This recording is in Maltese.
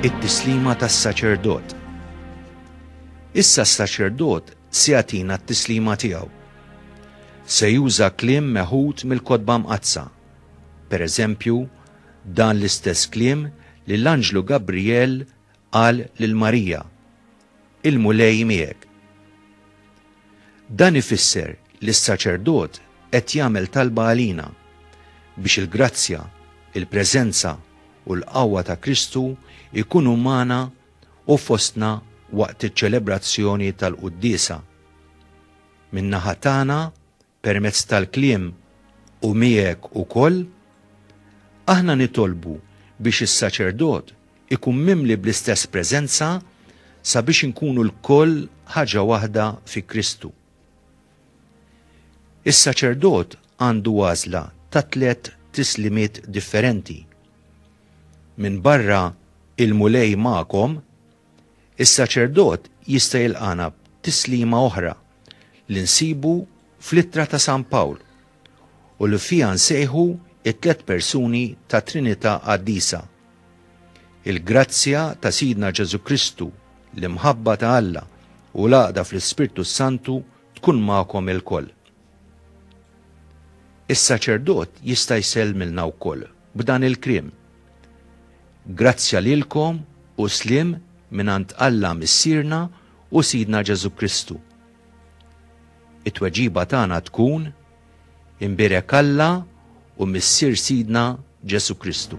It-tislima tas-saċerdot. Issa s-saċerdot se jagħtina t-tislima tiegħu. Se juża kliem meħud mill-kotba mqazza. Per eżempju, dan l-istess kliem li l-anġlu Gabriel qal lil Marija. il-Mulej miegħek. Dan ifisser li s-saċerdot qed jagħmel talba għalina biex il-grazzja, il-preżenza u l-qawwa ta' Kristu jkunu magħna u fostna waqt iċ-ċelebrazzjoni tal-quddiesa. Min-naħa tagħna permezz tal-kliem u miegħek ukoll, aħna nitolbu biex is-saċerdot ikun mimli bl-istess preżenza sabiex inkunu lkoll ħaġa waħda fi Kristu. Is-saċerdot għandu għażla ta' tliet tislimiet differenti. Minbarra il-Mulej magħkom, Is-saċerdot jista' jilqagħna b'tislima oħra li nsibu fl-Ittra ta' San Pawl u li fiha nsejħu t-tliet persuni tat-Trinità Qaddisa, Il-grazzja ta' Sidna Ġesù Kristu, l-imħabba ta' Alla u l-għaqda fl-Ispirtu s-Santu tkun magħkom ilkoll. Is-saċerdot jista' jsellmilna wkoll. b'dan il-kliem, Grazzja lilkom u sliem mingħand Alla Missierna u Sidna Ġesù Kristu. It-tweġiba tagħna tkun, Imbierek Alla u Missier Sidna Ġesù Kristu.